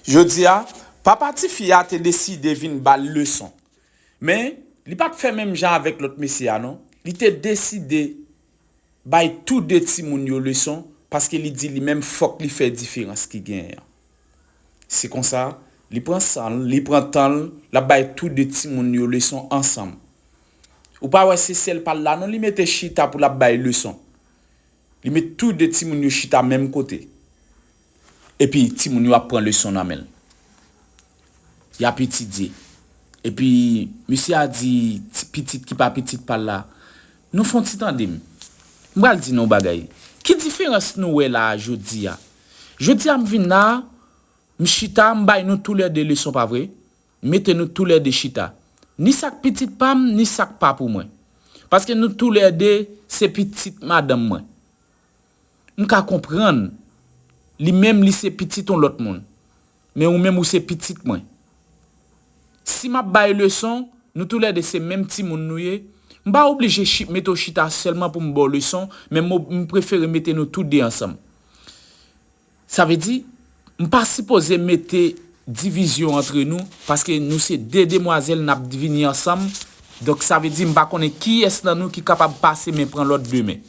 Jodi a, papa tifi a te deside vin ba l leson. Men, li pa t fè menm jan avèk lòt mesye a non. Li te deside bay tou de timoun yo leson paske li di li menm fòk li fè diferans ki genyen an. Se konsa, li pran san l, li pran tan l, l ap bay tou de timoun yo leson ansanm. Ou pa wè se sèl pa l la non li mete chita pou l ap bay leson. Li met tou de timoun yo chita menm kote. Epi timoun yo ap pran leson nan men l. Y ap etidye. Epi, mesye a di ti pitit ki pa pitit pa l la, Nou fè yon ti tande m. M pral di nou yon bagay. Ki diferans nou wè la a jodi a? Jodi a m vin la a, m chita, m bay nou toulède leson, pa vre? M mete nou toulède chita. Ni sa k pitit pa m, ni sa k pa pou mwen. Paske nou toulède se pitit madanm mwen. M ka konprann, li menm li se pitit on lòt moun. Men ou menm ou se pitit mwen. Si m ap bay leson, nou tou lè de se menm timoun nou ye, m pa oblije chi, mete w chita sèlman pou m ba w leson, men m ob, m prefere mete nou tou de ansanm. Sa vle di, m pa sipoze mete divizyon antre nou, paske nou se 2 demwazèl n ap vini ansanm, donk sa vle di m pa konnen kiyès nan nou ki kapab pase men pran lòt demen.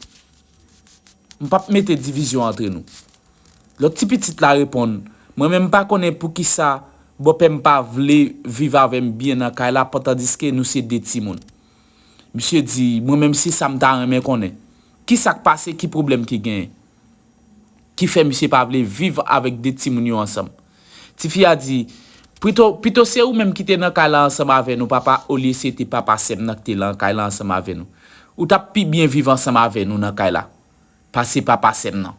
M p ap mete divizyon antre nou. Lòt ti pitit la reponn, Mwen menm m pa konnen poukisa bòpè m pa vle viv avè m byen nan kay la pantandiske nou se 2 timoun. Misye di, Mwen menm se sa m ta renmen konnen. Kisa k pase, ki pwoblèm ki genyen? ki fè misye pa vle viv avèk 2 timoun yo ansanm. Tifi a di, Prito, pito se ou menm ki te nan kay la ansanm avè nou papa olye se te papa sèm nan ki te lan kay la ansanm avè nou. Ou t ap pi byen viv ansanm avè nou nan kay la pase papa sèm nan.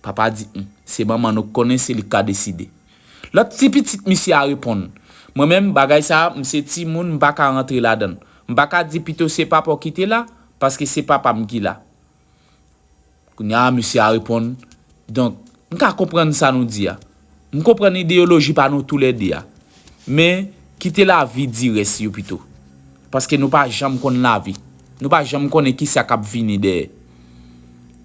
Papa a di, Hum, se manman nou k konnen, se li k ka deside. Lòt ti pitit misye a reponn, Mwen menm, bagay sa a, m se timoun, m pa ka rantre ladan l. M pa ka di pito se papa w ki te la, paske se papa m ki la. Kounye a, mesye a reponn, Donk, m ka konprann sa nou di a. M konprann ideyoloji pa nou toulède a. Men, kite lavi di rès yo pito. Paske nou pa janm konn lavi. Nou pa janm konnen ki sa k ap vini dèyè.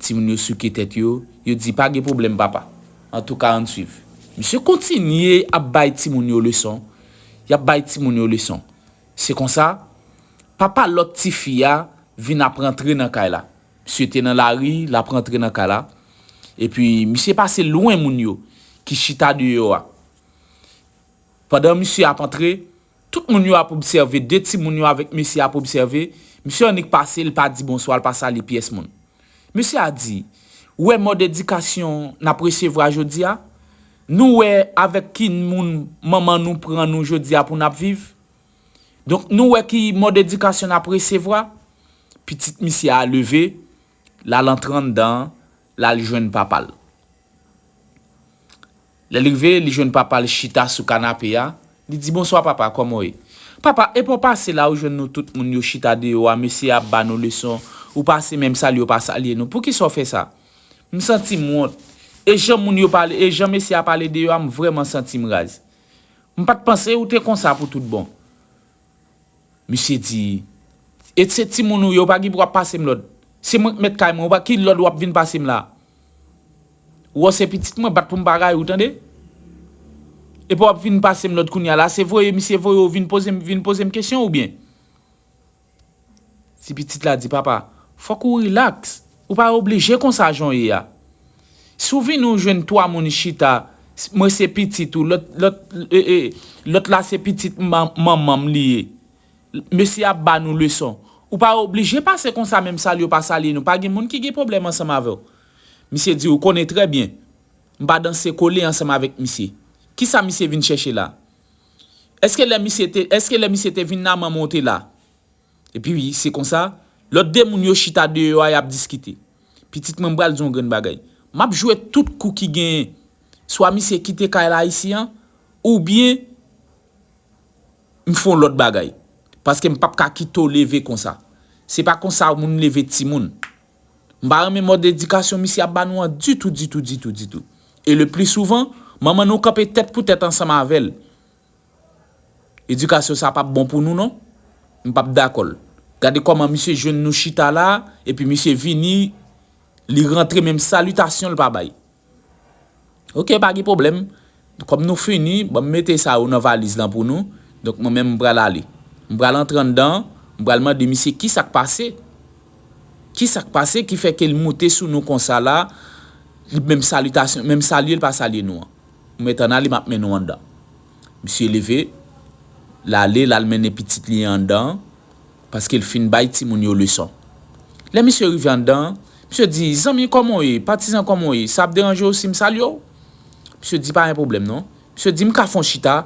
Timoun yo souke tèt yo, yo di, Pa gen pwoblèm, papa. Antouka, ann suiv. Misye kontinye ap bay timoun yo leson. Y ap bay timoun yo leson. Se konsa, papa lòt ti fi a vin ap rantre nan kay la. Misye te nan lari, l ap rantre nan kay la. Epi, misye pase lwen moun yo ki chita deyò a. Pandan misye ap antre, tout moun yo ap obsève, de timoun yo avèk mesye a ap obsève. Misye annik pase, li pa di bonswa, li pa sali pyès moun. Mesye a di, Wè mòd edikasyon n ap resevwa jodi a? Nou wè avèk ki moun manman nou pran nou jodi a pou n ap viv? Donk nou wè ki mòd edikasyon n ap resevwa? Pitit misye a leve, l al antre anndan an, l al jwenn papa l. Lè li rive, li jwenn papa l chita sou kanape a, li di bonswa papa kòman w ye? Papa, epa w pase la ou jwenn nou tout moun yo chita deyò a mesye a ap ba nou leson ou pase menm salye w pa salye nou poukisa w fè sa? M santi m wont e jan moun yo pale e jan mesye a pale deyò a m vrèman santi m raz. M pat panse ou te konsa pou tout bon. Misye di, E se timoun ou ye, ou pa gen pou ap pase m lòd. Se mwen k mèt kay mwen, ki lòd w ap vin pase m la a? Ou wè w se pitit mwen, bat pou m pa rayi w, tande! Epi w ap vin pase m lòd kounye a la, se voye misye voye w vin poze m kesyon oubyen? Ti pitit la di papa, Fòk ou rilaks, ou pa oblije konsa jan w ye a. Si w vini w jwenn 3 moun chita, mwen se pitit ou, lòt la se pitit manman m li ye, mesye ap ba nou leson. Ou pa oblije pase konsa menm salye w pa salye nou, pa gen moun ki gen pwoblèm ansanm avè w. Misye di, Ou konnen trè byen, m pa danse kole ansanm avèk misye. Kisa misye vin chèche la? Eske lè misye te eske lè misye te vin la manman w te la? Epi se konsa, lòt de moun yo chita deyò a y ap diskite. Pitit mwen m pral di w yon grenn bagay. M ap jwe tout kou ki genyen. Swa misye kite kay la isi an, oubyen m fè yon lòt bagay. Paske m p ap ka kite w leve konsa. Se pa konsa moun leve timoun. M pa renmen mòd edikasyon misye ap ba nou an ditou, ditou, ditou, ditou. E le pli souvan, manman nou kanpe tèt pou tèt ansanm avè l. Edikasyon sa a pap bon pou nou non. M pap dakò l. Gade kòman misye jwenn nou chita la a, epi misye vini, li rantre menm salitasyon l pa bay. Ok pa gen pwoblèm, kòm nou fini, ban m mete sa yo nan valiz lan pou nou. Donk mwen menm m pral ale. M pral antre anndan, m pral mande misye ki sa k pase? Ki sa k pase ki fè ke l moute sou nou konsa la, li menm salitasyon, menm salye l pa salye nou an. M mèt ann ale, m ap mennen w anndan. Misye leve, l ale, l al mennen pitit li an anndan. paske l fin bay timoun yo leson. Lè misye rive anndan an, misye di, Zanmi, kòman w ye? Patizan, kòman w ye? Sa ap deranje w si m salye w? Misye di, Pa gen pwoblèm non. Misye di, M ka fè yon chita?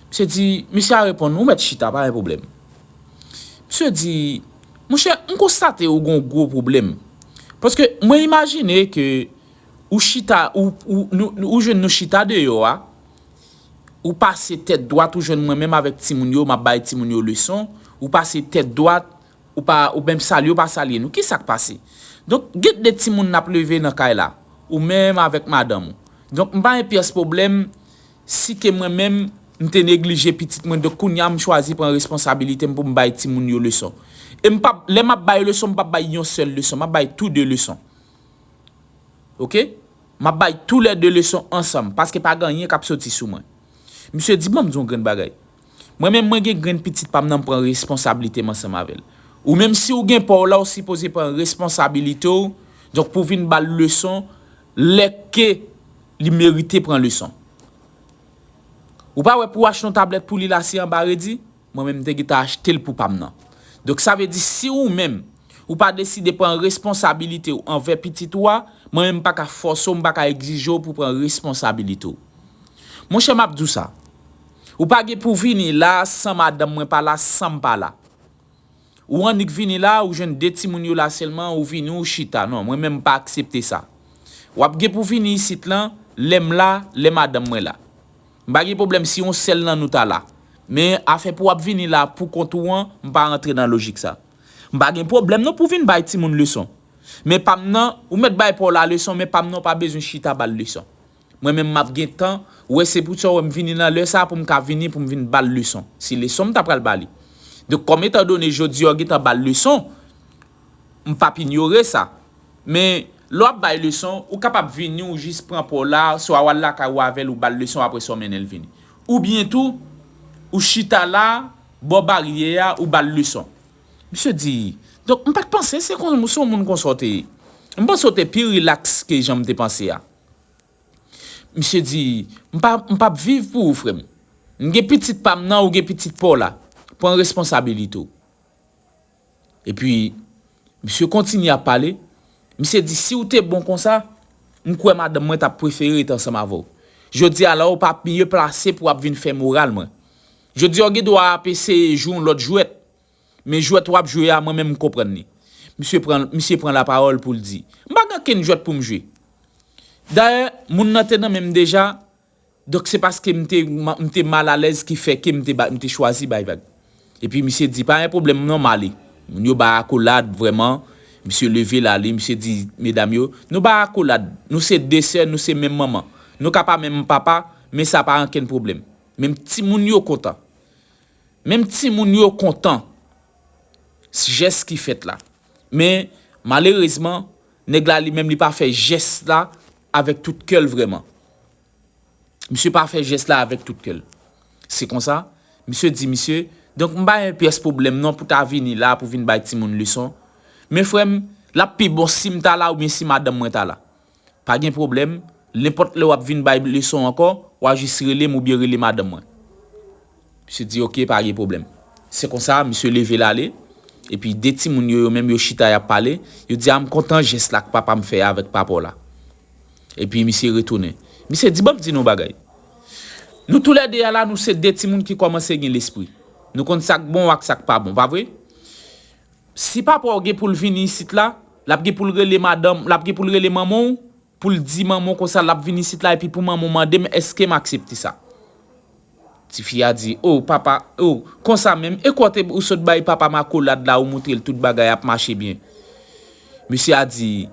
Misye di, Misye a reponn, Ou mèt chita, pa gen pwoblèm. Misye di, Monchè, m konstate ou gen yon gwo pwoblèm. Paske mwen imajine ke ou chita, ou jwenn nou chita deyò a, Ou pase tèt dwat ou jwenn mwen menm avèk timoun yo map bay timoun yo leson, ou pase tèt dwat ou pa ou menm salye ou pa salye nou ki sak pase? Donk gen 2 timoun nap leve nan kay la ou menm avèk madanm ou donk m pa gen pyès pwoblèm si ke mwen menm m te neglije pitit mwen donk kounya m chwazi pran responsabilite m pou m bay timoun yo leson e m pap lè map bay leson m pap bay yon sèl leson map bay tou 2 leson ok. Map bay tou lè 2 leson ansanm paske pa ganyen kap soti sou mwen. Misye di banm di yon grenn bagay. Mwen menm mwen gen grenn pitit pam nan m pran responsablite m ansanm avèl. Ou menm siw gen paw la ou sipoze pran responsabilitew donk pou vin bal leson lè ke li merite pran leson. Ou pa wè pou achte yon tablèt pou li la se anba redi. Mwen menm m te gentan achte l pou pa m nan. Donk sa vle di si ou menm, ou pa deside pran responsabilite w anvè pitit ou a, mwen menm m pa ka fòse w, m pa ka egzije w pou pran responsabilite w. Monchè m ap di w sa, ou pa gen pou vini la a san madanm mwen pa la, san m pa la. Ou annik vini la a, ou jwenn de timoun yo la sèlman, ou vini ou chita. Non, mwen menm m pa aksepte sa. W ap gen pou vini isit lan lè m la, lè madanm mwen la. M pa gen pwoblèm si yon sèl nan nou ta la. Men, afè pou w ap vini la poukont ou an, m pa rantre nan lojik sa. M pa gen pwoblèm non pou w vin bay timoun leson. Men pa m nan, ou mèt bay pa w la leson men pa m nan w pa bezwen chita ba l leson. Mwen menm m ap gen tan, wè se poutsa w wè m vini nan lè sa a pou m ka vini pou m vin ba l leson, si leson m ta pral ba li. Donk kòm etandone jodi a w gen tan ba l leson, M p ap inyore sa. Men, lè w ap bay leson, ou kapab vini ou jis pran pa w la, swa w al lakay ou avè l ou ba l leson apre sa w mennen l vini. Oubyen tou, ou chita la, bò baryè a, ou ba l leson. Misye di, Donk, m pa t panse se kon se yon moun kon sa w te ye. M panse w te pi rilaks ke jan m te panse a. Misye di, M pa m p ap viv pou ou, frè m. M gen pitit pa m nan, ou gen pitit pa w la. Pran responsabilite w. Epi, misye kontinye ap pale, misye di, si ou te bon konsa, m kwè madanm mwen t ap prefere rete ansanm avè w. Jodi a la ou pa miye plase pou w ap vin fè moral mwen. Jodi a ou gen dwa ap eseye jwe yon lòt jwèt, men jwèt w ap jwe a mwen menm m konprann li. Misye pran, misye pran lapawòl pou l di, M pa gen okenn jwèt pou m jwe. Dayè, moun nan te nan men m deja. Donk se paske m te m te mal alèz ki fè ke m te m te chwazi bay vag. Epi misye di pa gen pwoblèm non m ale. Moun yo bay akolad vrèman, misye leve l ale, misye di medam yo, nou bay akolad, nou se 2 sè, nou se menm manman. Nou ka pa menm papa, men sa pa ankenn pwoblèm. Menm timoun yo kontan. Menm timoun yo kontan jès ki fèt la. Men malerezman, nèg la li menm li pa fè jès la. Avèk tout kè l vrèman. Misye pa fè jès la avèk tout kè l. Se konsa, misye di misye, Donk m pa yon pyès pwoblèm non pou ta vini la pou vin bay timoun leson. Men frè m, l ap pi bon si m ta la oubyen si madanm mwen ta la. Pa gen pwoblèm, lenpòt lè w ap vin bay leson ankò, w a jis rele m oubyen rele madanm mwen. Misye di ok pa gen pwoblèm. Se konsa misye leve l ale, epi de timoun yo yo menm yo chita y ap pale, yo di a m kontan jès la k papa m fè avèk papa w la. Epi misye retounen. Misye di ban m di nou yon bagay. Nou tou lè de a la nou se de timoun ki kòmanse gen lespri. Nou konn sa k bon ak sa k pa bon, pa vre? Si papa w gen pou l vini isit la, l ap gen pou l rele madanm, l ap gen pou l rele manman w, Pou l di manman w konsa l ap vin isit la epi pou manman w mande m èske m aksepte sa. Tifi a di, O, papa, o, konsa menm, e kote ou sot bay papa m akolad la ou moutre l tout bagay ap mache byen. Mesye a di,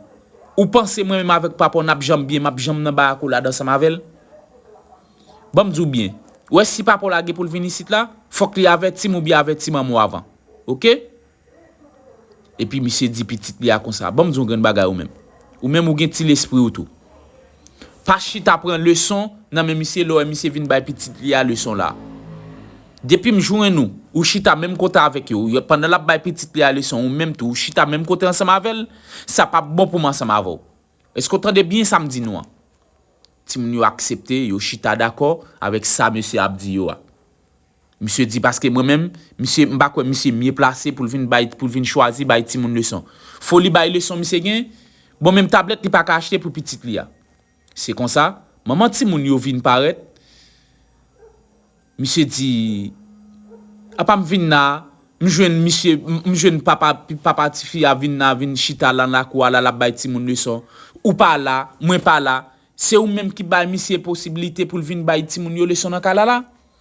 Ou panse mwen menm avèk papa w n ap janm byen, m ap janm nan bay akolad ansanm avè l? Ban m di w byen, ou wè si papa w la gen pou l vin isit la, fòk li avèti m oubyen avèti manman w avan. Oke? Epi misye di pitit li a konsa, banm di w yon grenn bagay ou menm. Ou menm ou gen ti lespri ou tou. Pa chita pran leson nan men misye lè w wè misye vin bay pitit li a leson la. Depi m jwenn ou, ou chita menm kote avèk yo, pandan l ap bay pitit li a leson ou menm tou ou chita menm kote ansanm avè l, sa pap bon pou m ansanm avè w. Eske w tande byen sa m di nou an? Timoun yo aksepte, yo chita dakò avèk sa mesye a ap di yo a. Misye di paske mwen menm, misye m pa kwè misye mye plase pou l vin bay pou l vin chwazi bay timoun leson. Foli bay leson misye gen, bon menm tablèt li pa ka achte pou pitit li a. Se konsa, manman timoun yo vin parèt, misye di, apa m vin la, m jwenn misye, m jwenn papa papa tifi a vin la, vin chita lan lakou a la l ap bay timoun leson. Ou pa la, mwen pa la, se ou menm ki bay misye posibilite pou l vin bay timoun yo leson nan kay la la?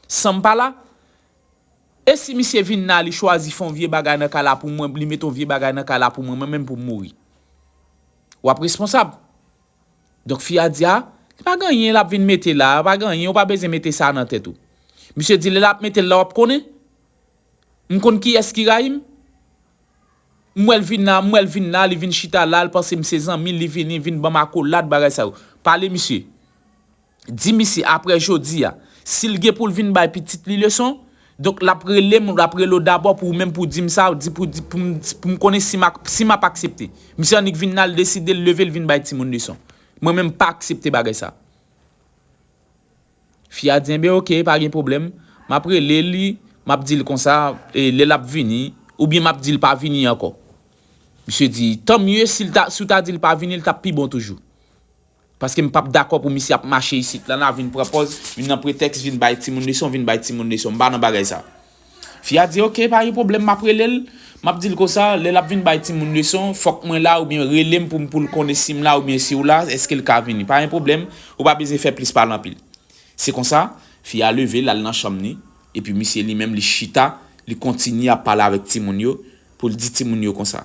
Sanm pa la? E si misye vin la li chwazi fon vye bagay nan kay la pou mwen li met on vye bagay nan kay la pou mwen mwen menm poum mouri? Wap responsab. Donk fi a di a li pa gen anyen lap vin mete la pa gen anyen ou pa bezyen mete sa nan tèt ou. Misye di lè lap metel la wap konnen? M konn kiyès ki rayim? M wèl vin la m wèl vin la li vin chita la li panse m se zanmil li vini vin banm akolad bagay sa yo. Pale misye. Di misye aprè jodi a, si l gen pou l vin bay pitit li leson, donk l ap rele m, l ap rele w dabò pou ou menm pou w di m sa, di pou di pou m pou m konnen si m ak si m ap aksepte. Misye annik vin nan l deside l leve l vin bay timoun leson. Mwen menm m pa aksepte bagay sa. Fi a di enben oke pa gen pwoblèm, m ap rele li, m ap di l konsa e lè l ap vini, oubyen m ap di l pa vini ankò. Misye di, tanmye si l ta si w ta di l pa vini l t ap pi bon toujou. Paske m pap dakò pou misye ap mache isit la la vin pran pòz vin nan pretèks vin bay timoun leson vin bay timoun leson m pa nan bagay sa. Fi a di ok pa gen pwoblèm map rele l map di l konsa lè lap vin bay timoun leson fòk mwen la oubyen rele m pou m pou l konnen si m la oubyen si w la èske l ka vini pa gen pwoblèm ou pa bezyen fè plis pale anpil. Se konsa fi a leve l al nan chanm li epi misye li menm li chita li kontinye ap pale avèk timoun yo pou l di timoun yo konsa.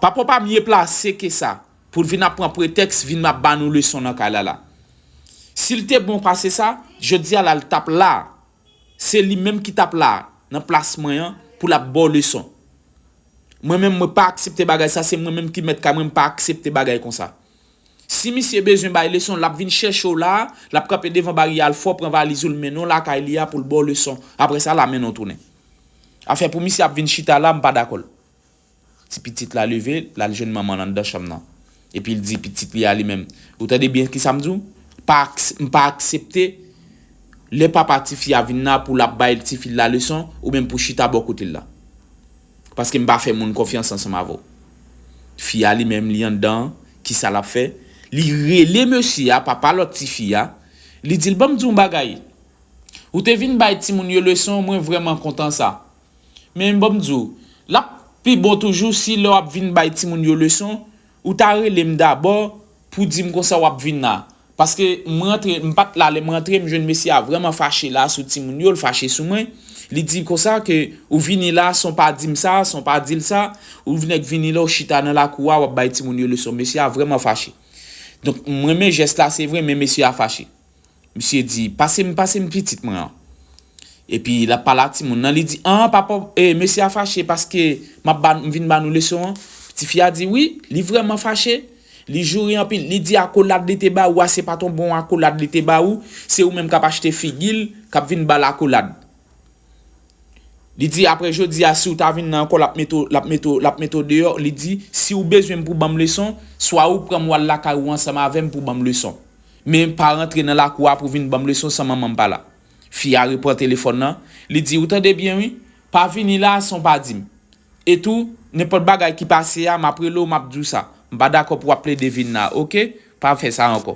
Papa w pa mye plase ke sa. Pou l vin ap pran pretèks vin ap ba nou leson nan kay la la. Si l te bon pase sa, jodi a la l t ap la a. Se li menm ki t ap la a, nan plas mwen an, pou l ap ba w leson. Mwen menm mwen pa aksepte bagay sa, se mwen menm ki mèt kay mwen, m pa aksepte bagay konsa. Si misye bezwen bay leson, l ap vin chèche w la a, l ap kanpe devan barye a, l fè w pran valiz ou, l mennen w lakay li a pou l ba w leson. Apre sa, l amenn w tounen. Afè pou misye ap vin chita la a, m pa dakò l. Ti pitit la leve, l al jwenn manman l anndan chanm nan. Epi l di pitit li a li menm, Ou tande byen ki sa m di w? M pa aksepte lè papa tifi a vin la pou l ap bay tifi l la leson, ou menm pou w chita bò kote l la. Paske m pa fè moun konfyans ansanm avè w. Fi a li menm li anndan an, ki sa l ap fè? Li rele mesye a, papa lòt tifi a, li di l, Ban m di w yon bagay, ou te vin bay timoun yo leson, mwen vrèman kontan sa. Men banm di w, lap pi bon toujou si lè wap vin bay timoun yo leson, ou ta rele m dabò pou di m konsa wap vin la. Paske m rantre, m pat la lè m rantre, m jwenn mesye a vrèman fache la sou timoun yo, l fache sou mwen. Li di konsa ke ou vini la san w pa di m sa, san w pa di l sa, ou nèk vini la ou chita nan lakou a wap bay timoun yo leson. Mesye a vrèman fache. Donk m renmen jès la se vre men mesye a fache. Misye di, Pase m, pase m pitit mwen an. Epi l ap pale ak timoun nan, li di, An, papa, mesye a fache paske m ap ba, m vin ba nou leson an? Tifi a di, Wi, li vrèman fache. Li joure anpil. Li di akolad li te ba ou a se pa t yon bon akolad li te ba ou, se ou menm k ap achte figi l, k ap vin ba l akolad. Li di, Apre jodi a, si ou ta vin nan ankò, l ap mete ou, l ap mete ou, l ap mete ou deyò. Li di, Si ou bezwen m pou w ban m leson, swa ou pran m w al lakay ou ansanm avè m pou w ban m leson. Men pa rantre nan lakou a pou vin ban m leson san manman m pa la. Fi a repran telefòn lan, li di, Ou tande byen wi, pa vini la a san w pa di m. E tou, nenpòt bagay ki pase a, m ap rele w m ap di w sa. M pa dakò pou w ap plede vin la a, oke? Pa fè sa ankò.